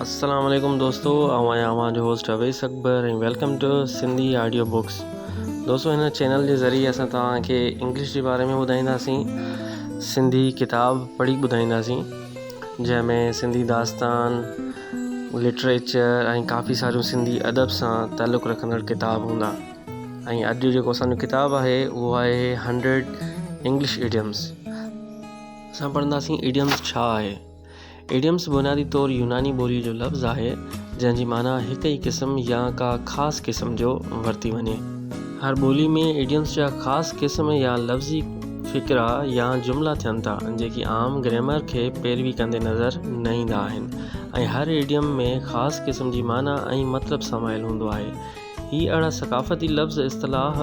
السلام عليڪم دوستو آئون آهيان اوهان جو host Awais Akbar ۽ welcome to Sindhi audio books دوستو هن چينل جي ذريعي اسان توهانکي انگلش جي باري ۾ ٻڌائينداسين سنڌي ڪتاب پڙهي ٻڌائينداسين جنهن ۾ سنڌي داستان لٽريچر ۽ ڪافي ساريون سنڌي ادب سان تعلق رکندڙ ڪتاب هوندا ۽ اڄ جو جيڪو اسانجو ڪتاب آهي اهو آهي هنڊريڊ انگلش ايڊيمس اسان پڙهنداسين ايڊيمس ڇا آهي ايڊيمس بنيادي طور يوناني ٻوليء جو لفظ آهي، جنهن جي معنيٰ هڪ ئي قسم يا ڪا خاص قسم جو ورتي وڃي. هر ٻوليء ۾ ايڊيمس جا خاص قسم يا لفظي فقرا يا جملا ٿين ٿا، جيڪي عام گريمر کي پيروي ڪندي نظر نه ايندا آهن ۽ هر ايڊيم ۾ خاص قسم جي معنيٰ ۽ مطلب سمايل هوندو آهي. هي اهڙا ثقافتي لفظ، اصطلاح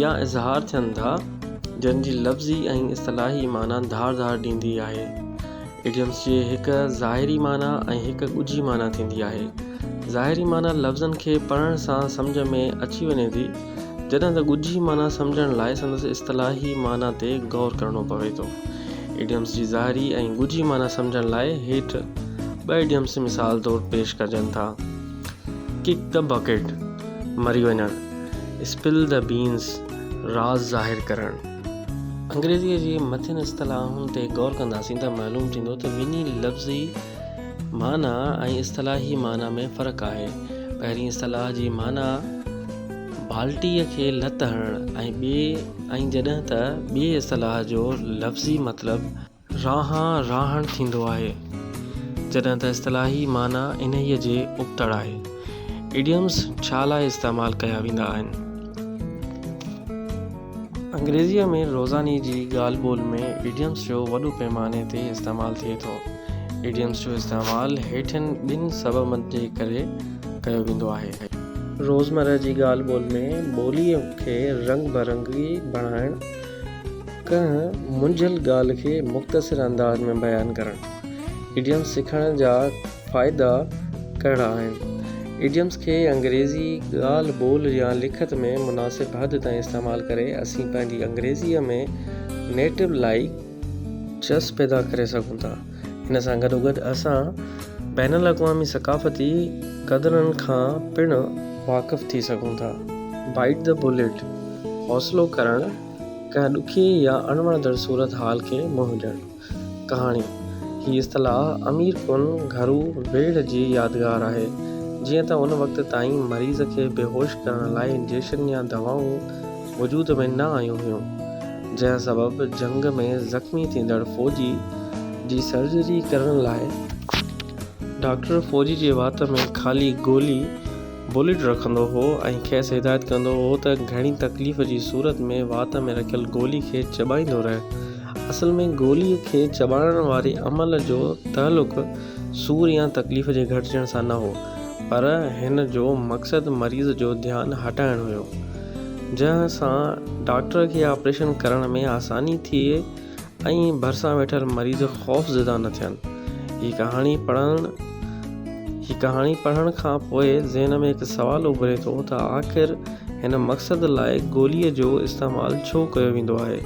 يا اظهار ٿين ٿا، جن جي لفظي ۽ اصطلاحي معنيٰ ڌار ڌار ڏيندي آهي. Idioms جي هڪ ظاهري معنيٰ ۽ هڪ ڳجهي معنيٰ ٿيندي آهي. ظاهري معنيٰ لفظن کي پڙهڻ سان سمجهه ۾ اچي وڃي ٿي، جڏهن ته ڳجهي معنيٰ سمجهڻ لاء سندس اصطلاحي معنيٰ تي غور ڪرڻو پوي ٿو. Idioms جي ظاهري ۽ ڳجهي معنيٰ سمجهڻ لاء هيٺ ٻه Idioms مثال طور پيش ڪجن ٿا. Kick the Bucket، مري وڃڻ، Spill the Beans، راز ظاهر ڪرڻ. انگريزيء جي مٿين اصطلاحن تي غور ڪنداسين ته معلوم ٿيندو ته ٻنهي لفظي معنيٰ ۽ اصطلاحي معنيٰ ۾ فرق آهي. پهرين اصطلاح جي معنيٰ بالٽيء کي لت هڻڻ ۽ ٻي ۽ جڏهن ته ٻيء اصطلاح جو لفظي مطلب راهان راهڻ ٿيندو آهي، جڏهن ته اصطلاحي معنيٰ انهيء جي ابتڙ آهي. Idioms ڇا لاء استعمال ڪيا ويندا آهن؟ انگريزيء ۾ روزاني جي ڳالهه ٻولهه ۾ Idioms جو وڏو پيماني تي استعمال ٿئي ٿو. Idioms جو استعمال هيٺين ٻن سببن جي ڪري ڪيو ويندو آهي. روزمره جي ڳالهه ٻولهه ۾ ٻوليء کي رنگ برنگي بڻائڻ. ڪنهن منجهيل ڳالهه کي مختصر انداز ۾ بيان ڪرڻ. ايڊيمز سکڻ جا فائدا ڪهڙا آهن؟ ايڊيمز کي انگريزي ڳالهه ٻولهه يا لکت ۾ مناسب حد تائين استعمال ڪري اسين پنهنجي انگريزيء ۾ نيٽو لائيڪ چس پيدا ڪري سگهون ٿا. ان سان گڏوگڏ اسان بين الاقوامي ثقافتي قدرن کان پڻ واقف ٿي سگهون ٿا. بائيٽ دي بليٽ، حوصلو ڪرڻ، ڪنهن ڏکي يا اڻوڻندڙ صورتحال کي منهن ڏيڻ. ڪهاڻي، هي اصطلاح امير ڪن گهرو ويڙهه جي يادگار آهي، جيئن ته ان وقت تائين مريض کي بيهوش ڪرڻ لاء انجيڪشن يا دوائون، وجود ۾ نه آيون هيون، جنهن سبب جنگ ۾ زخمي ٿيندڙ فوجي جي سرجري ڪرڻ لاء ڊاڪٽر فوجي جي وات ۾ خالي گولي Bullet رکندو هو ۽ کيس هدايت ڪندو هو ته گهڻي تڪليف جي صورت ۾ وات ۾ رکيل گولي کي چٻائيندو رهه. اصل ۾ گولي کي چٻاڙڻ واري عمل جو تعلق سور يا تڪليف جي گهٽجڻ سان نه هو، پر هن جو مقصد مريض جو ڌيان هٽائڻ هيو. جنهن سان ڊاڪٽر کي آپريشن ڪرڻ ۾ آساني ٿئي ۽ ڀرسان ويٺل مريض خوفزده نه ٿين. هي ڪهاڻي پڙهڻ هي ڪهاڻي پڙهڻ کان پوء ذهن ۾ هڪ سوال اڀري ٿو ته آخر هن مقصد لاء گوليء جو استعمال ڇو ڪيو ويندو آهي؟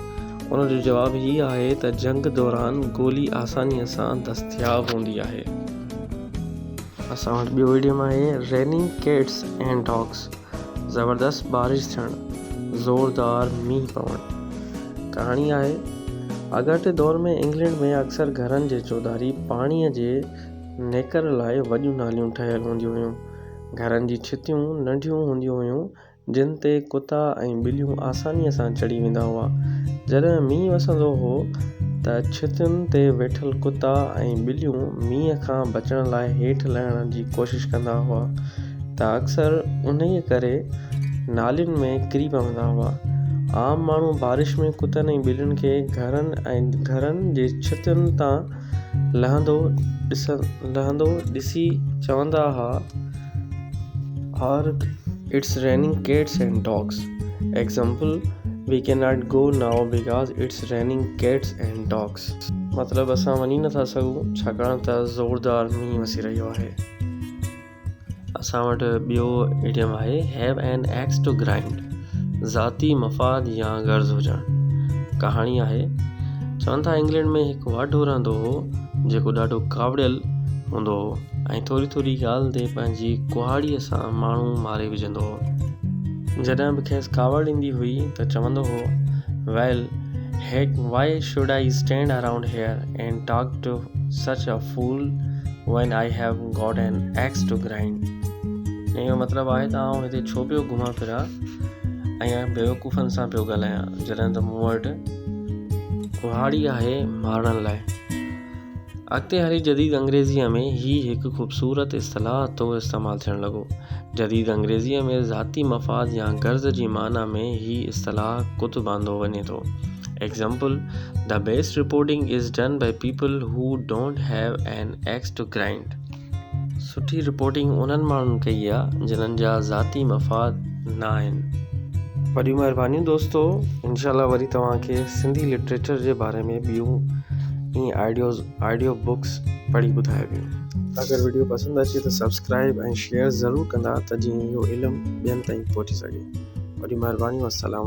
ان جو جواب هي آهي ته جنگ دوران گولي آسانيء سان دستياب هوندي آهي. اسان وٽ ٻيو ايڊيم آهي Raining Cats and Dogs زبردست بارش ٿيڻ، زوردار مينهن پوڻ. ڪهاڻي آهي، اڳاٽي دور ۾ انگلينڊ ۾ اڪثر گهرن جي چوڌاري پاڻيء جي نيڪر لاء وڏيون ناليون ٺهيل هونديون هيون. گهرن جي ڇتيون ننڍيون هونديون هيون، جن تي ڪتا ۽ ٻليون آسانيء سان چڙهي ويندا هئا. جڏهن مينهن وسندو هو ته ڇتين تي ويٺل ڪتا ۽ ٻليون مينهن کان بچڻ لاء هيٺ لهڻ جي ڪوشش ڪندا هئا. ته اڪثر انهيء ڪري نالين ۾ ڪري پوندا هئا. عام ماڻهو بارش ۾ ڪتن ۽ ٻلين کي گهرن ۽ گهرن جي ڇتن تان لهندو ڏسي چوندا هئا Argh it's raining cats and dogs Example، we can not go now because it's raining cats and dogs مطلب اسان وڃي نٿا سگهون ڇاڪاڻ ته زوردار مينهن وسي رهيو آهي. اسان وٽ ٻيو ايڊيم آهي Have an axe to grind ذاتي مفاد يا غرض هجڻ ڪهاڻي آهي چون ٿا انگلينڊ ۾ هڪ واڍو رهندو هو جيڪو ڏاڍو ڪاوڙيل هوندو هو ۽ ٿوري ٿوري ڳالهه تي پنهنجي ڪهاڙي سان ماڻهو ماري وجهندو هو جڏهن به کيس ڪاوڙ ايندي هئي ته چوندو هو Well heck why should I stand around here and talk to such a fool when I have got an axe to grind ان جو مطلب آهي ته آئون هتي ڇو پيو گهمان ڦران ۽ بيوقوفن سان پيو ڳالهايان جڏهن ته مون وٽ ڪهاڙي آهي مارڻ لاء اڳتي هلي جديد انگريزيء ۾ هي هڪ خوبصورت اصطلاح طور استعمال ٿيڻ لڳو جديد انگريزيء ۾ ذاتي مفاد يا غرض جي معنيٰ ۾ هي اصطلاح ڪتب آندو وڃي ٿو Example، The best reporting is done by people who don't have an axe to grind. سٺي رپورٽنگ انهن ماڻهن ڪئي آ جنهن جا ذاتي مفاد نه آهن. وڏيون مهربانيون دوستو انشاء الله وري توهان کي سنڌي لٽريچر جي باري ۾ ٻيون ائين آئيڊيوز آئيڊيو بڪس پڙهي ٻڌائبيون اگر ويڊيو پسند اچي ته سبسڪرائب ۽ شيئر ضرور ڪندا ته جيئن اهو علم ٻين تائين پهچي سگهي وڏيون مهربانيون السلام